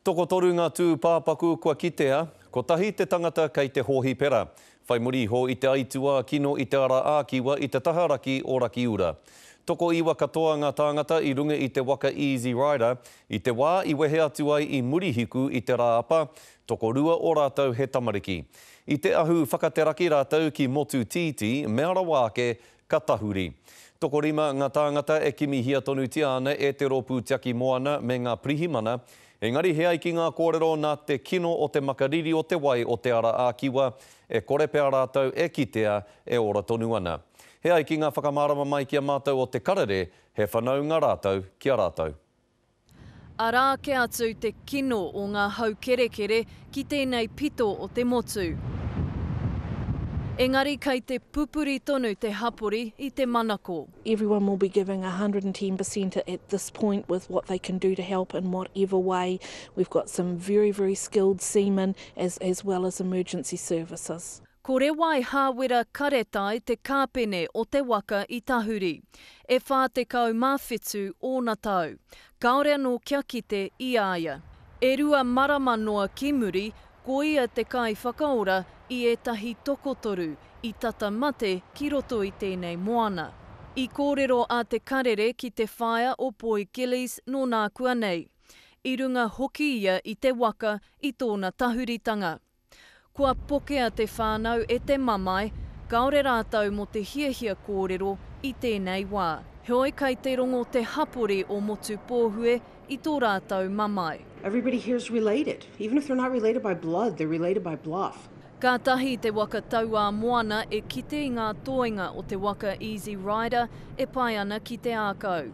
Tokotoru ngā tūpāpaku kua kitea, kotahi te tangata kei te hōhipera, whai muri iho i te aituā kino i te ara ā-kiwa i te taha raki o Rakiura. Tokoiwa katoa ngā tāngata i runga i te waka Easy Rider i te wā i wehe atu ai i Murihiku i te Rāapa, tokorua o rātou he tamariki. I te ahu whakateraki rātou ki Motu Tītī, mea rawa ake, Ka tahuri. Tokorima ngā tāngata e kimihia tonutia ana e te Rōpū Tiaki Moana me ngā Pirihimana, engari he ai ki ngā kōrero nā te kino o te makariri o te wai o Te Ara a Kiwa, e kore pea rātou e kitea e ora tonu ana. He ai ki ngā whakamārama mai ki a mātou o Te Karere, he whanaunga rātou ki a rātou. Arā kē atu te kino o ngā hau kerekere ki tēnei pito o te motu. Engari kei te pupuri tonu te hapori i te manako. Everyone will be giving a hundred and ten per cent at this point with what they can do to help in whatever way. We've got some very, very skilled seamen as well as emergency services. Ko Rewai Hāwera Karetai te kāpene o te waka i tahuri. E whā tekau mā whitu ōna tau. Kāore anō kia kite i a ia. E rua marama noa ki muri, ko ia te kaiwhakaora i ētahi tokotoru i tata mate ki roto i tēnei moana. I kōrero a Te Karere ki te whaea o Poi Gillies nō nākuanei. I runga hoki ia i te waka i tōna tahuritanga. Kua pokea te whānau e te mamae, kāore rātou mō te hiahia kōrero i tēnei wā. Heoi kai te rongo te hapori o Motupōhue i tō rātou mamae. Everybody here is related. Even if they're not related by blood, they're related by bluff. Kātahi te waka Tauāmoana e kite i ngā toenga o te waka Easy Rider e pae ana ki te ākau.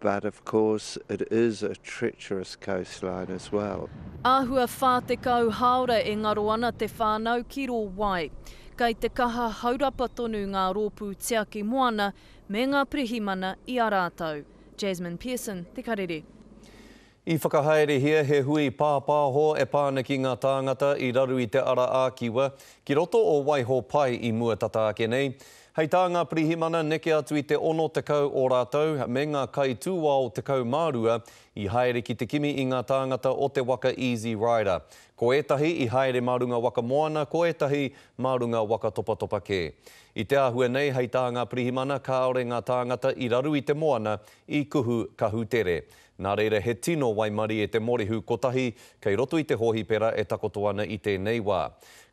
But of course it is a treacherous coastline as well. Āhua 40 hāora e ngaro ana te whānau ki rō wai. Kei te kaha haurapa tonu ngā rōpū tiaki moana me ngā pirihimana i a rātou. Jasmine Pearson, Te Karere. I whakahaerehia he hui pāpāho e pā ana ki ngā tāngata i raru i te ara ā-kiwa ki roto o Waiho Pai i mua tata ake nei. Hei tā ngā pirihimana neke atu i te 60 o rātou me ngā kaitūao 12 i haere ki te kimi i ngā tāngata o te waka Easy Rider. Ko ētahi i haere mā runga waka moana ko ētahi mā runga waka topatopa kē. I te āhua nei hei tā ngā pirihimana kāore ngā tāngata i raru i te moana i kuhu kahu tere. Nā reira he tino waimarie te morihu kotahi kei roto i te hōhipera e takoto ana i tēnei wā.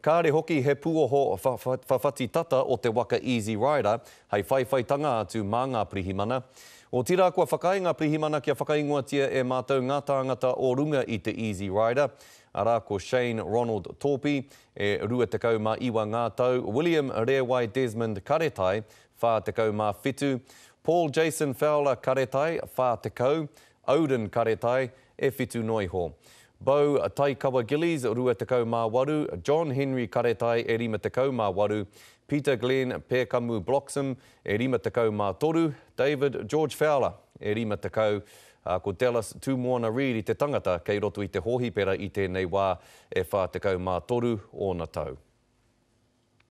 Kāre hoki he puoho whawhati tata o te waka Easy Rider hei whaiwhaitanga atu mā ngā pirihimana. Otirā kua whakaae ngā pirihimana kia whakaingoatia e mātou ngā tāngata o runga i te Easy Rider, arā ko Shane Ronald Tōpi, e 29 ngā tau, William Rēwai Desmond Karetai, 47, Paul Jason Fowler Karetai, 40, Odin Karetai, e whitu noa iho. Bo Taikawa Gillies, 28, John Henry Karetai, e 58, Peter Glenn Pēkamu Bloxham, e 53, David George Fowler, e 50, ā, ko Dallas Tūmoana Reid i te tangata kei roto i te hōhipera i tēnei wā, e 43 ōna tau.